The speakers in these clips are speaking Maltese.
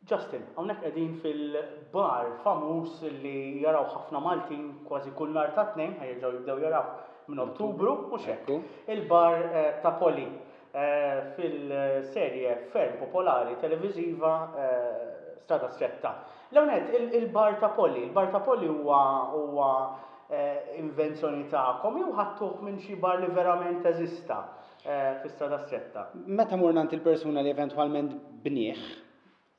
Justin, hawnhekk qegħdin fil-bar famuż li jaraw ħafna Maltin kważi kull nhar ta' tnejn ħajġaw jibdew jaraw minn Ottubru u xekku. Il-bar eh, ta' Poli. fil-serje ferm popolari televiżiva Strada Stretta. L-ewwel nett, il-bar ta' Polly. Il-bar ta' Polly huwa huwa invenzjoni tagħkom jew ħadtuh minn xi bar li verament teżista fi Strada Stretta? Meta morna għand il-persuna li eventwalment bnieh,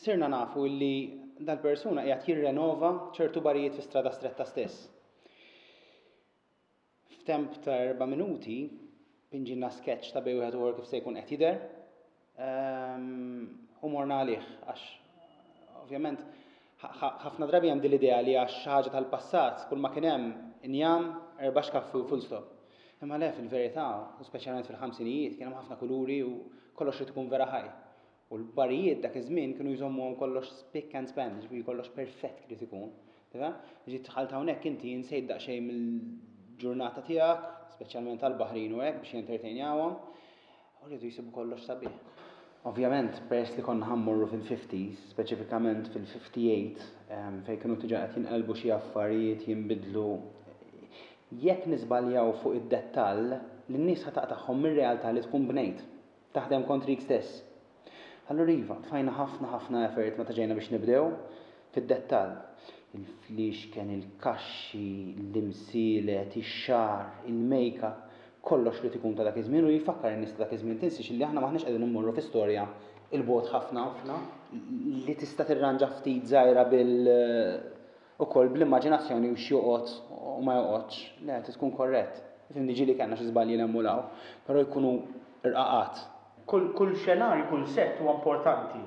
sirna nafu li dal-persuna qiegħed jirrenova ċertu barijiet fi Strada Stretta stess. F'temp ta' erba' minuti, pinġilna sketch ta' bejn wieħed u ieħor kif se jkun qed jidher ehm, u morna għalih għax ovvjament ħafna drabi hemm din l-idea li għax xi ħaġa tal-passat kull ma kien hemm injam erba' xkaffi u full stop. Imma le fil-verità, u speċjalment fil-ħamsinijiet, kien hemm ħafna kuluri u kollox li tkun vera ħaj. U l-barijiet dak iż-żmien kienu jżommuhom kollox spick and span, jiġifieri kollox perfett kif irid ikun. Tifhem? Ġiet tħalt hawnhekk inti insejt daqsxejn mill-ġurnata tiegħek, speċjalment tal-baħrin u hekk biex jentertejnjawhom, u rridu jsibu kollox sabiħ. Ovvjament, peress li konna ħammorru fil-50s, speċifikament fil-58, ehm, fejn kienu tiġa qed jinqelbu xi affarijiet jinbidlu, jekk niżbaljaw fuq id-dettall, lin-nies ħa taqtagħhom mir-realtà li tkun bnejt. Taħdem kontrik stess. Allura iva, tfajna ħafna ħafna effort meta ġejna biex nibdew fid-dettall. Il-fliexken, il-kaxxi, l-imsielet, ix-xagħar, il-makeup, kollox li tikun ta' dak iż-żmien u jfakkar in-nies ta' dak iż-żmien tinsiex li aħna m'aħniex qegħdin immorru fi storja 'l bogħod ħafna li tista' tirranġa ftit żgħira bil ukoll bl-immaġinazzjoni u x'joqgħod u ma joqgħodx, le, trid tkun korrett. Ifhimni ġieli kellna xi żbaljiel hemm u 'l hawn, però jkunu rqaqat. Kull kull xenarju, kull sett huwa importanti,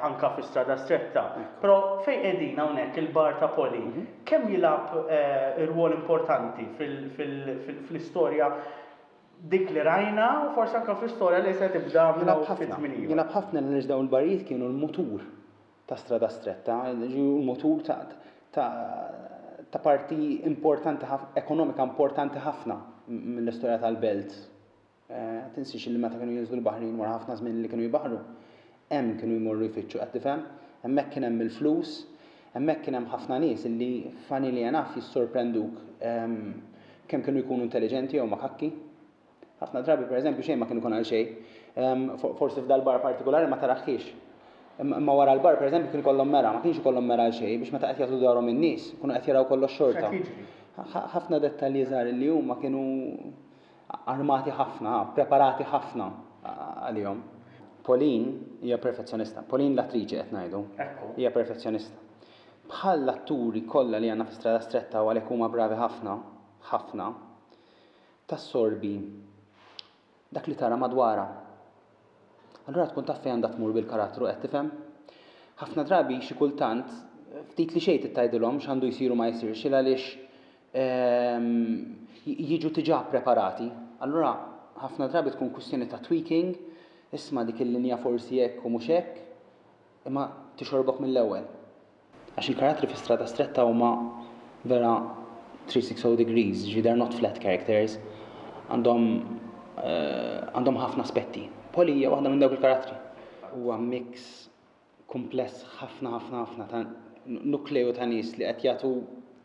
anke fi Strada Stretta. Però fejn qegħdin hawnhekk il-bar ta' Poli, kemm jilgħab rwol importanti fil fil fl-istorja dik li rajna u forsi anke fl-istorja li se tibda minn hawn ftit żmien ieħor. Jilgħab ħafna għaliex dawn il-barijiet kienu l-mutur ta' strada stretta, jiġifieri mutur ta', ta', ta' parti importanti ħafna, ekonomika importanti ħafna mill-istorja tal-belt. Eh, tinsiex li meta kienu jinżlu l-baħrin wara ħafna żmien li kienu jbaħru, hemm kienu jmorru jfittxu qed tifhem, hemmhekk kien hemm il-flus, hemmhekk kien hemm ħafna nies li funnily enough jissorprenduk ehm, kemm kienu jkunu intelliġenti jew makakki. Ħafna drabi, per eżempju, xejn ma kien ikun għal xejn. Forsi f'dal-bar partikolari ma taraħħiex. Imma wara l-bar, per eżempju, kien ikollhom mera, ma kienx ikollhom mera għal xejn, biex meta qed jagħtu dwarhom in-nies, kunu qed jaraw kollox xorta. Ħafna dettalji żgħar li huma kienu armati ħafna, preparati ħafna għalihom. Pauline hija perfezzjonista. Pauline l-attriċi qed ngħidu. Hija perfezzjonista. Bħal l-atturi kollha li għandna fi Strada Stretta u għalhekk huma bravi ħafna, ħafna, tassorbi dak li tara madwarha. Allura tkun taf fejn għandha tmur bil-karattru, qed tifhem? Ħafna drabi xi kultant ftit li xejn tgħidilhom x'għandu jsir u ma jsirx il għaliex ehm, jiġu tiġà preparati. Allura ħafna drabi tkun kwistjoni ta' tweaking, isma' dik il-linja forsi hekk u mhux hekk, imma tixorbok mill-ewwel. Għax il-karattri fi Strada Stretta huma vera 360 degrees, ġifieri they're not flat characters. Għandhom għandhom ħafna aspetti. Polly hija waħda minn dawk il-karattri. Huwa mix kumpless ħafna ħafna ħafna ta' nukleu ta' nies li qed jagħtu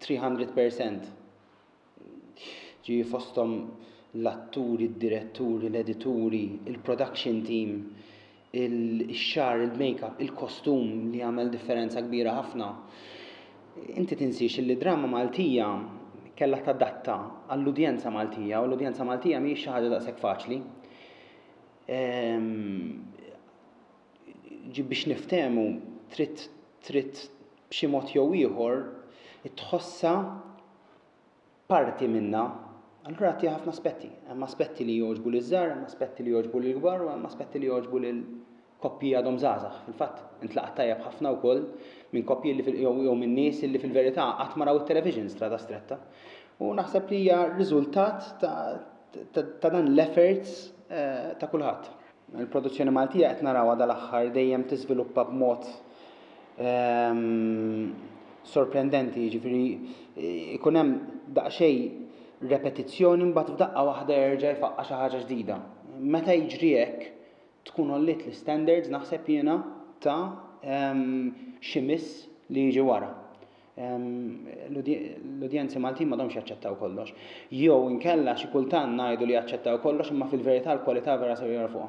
300 percent. ġifieri fosthom l-atturi, d-diretturi, l-edituri, il-production team, ix-xagħar, il-makeup, il-kostum li jagħmel differenza kbira ħafna. Inti tinsiex li d-drama Maltija kellha tadatta għall-udjenza Maltija u l-udjenza Maltija mhijiex xi ħaġa daqshekk faċli. Ehm, ġi biex niftehmu trid trid b'xi mod jew ieħor tħossha parti minnha, allura għati ħafna aspetti. Hemm aspetti li jogħġbu li żgħar, hemm aspetti li jogħġbu li kbar u hemm aspetti li jogħġbu li koppji għadhom żgħażagħ. Fil-fatt, intlaqat tajjeb ħafna wkoll minn koppji li jew minn nies li fil-verità qatt ma raw it-television strada stretta. U naħseb li hija riżultat ta' dan l-efforts eh, ta' kulħadd. Il-produzzjoni Maltija qed narawha dal-aħħar dejjem tiżviluppa b'mod ehm, sorprendenti, jiġifieri eh, ikun hemm daqsxejn repetizzjoni mbagħad f'daqqa waħda jerġa' jfaqqa xi ħaġa ġdida. Meta jiġri hekk tkun ollit l-standards naħseb jiena ta' ehm, xi miss li jiġi wara. l-udjenzi Maltin m'għadhomx jaċċettaw kollox. Jew inkella xi kultant ngħidu li jaċċettaw kollox imma fil-verità l-kwalità vera ser jorfuha.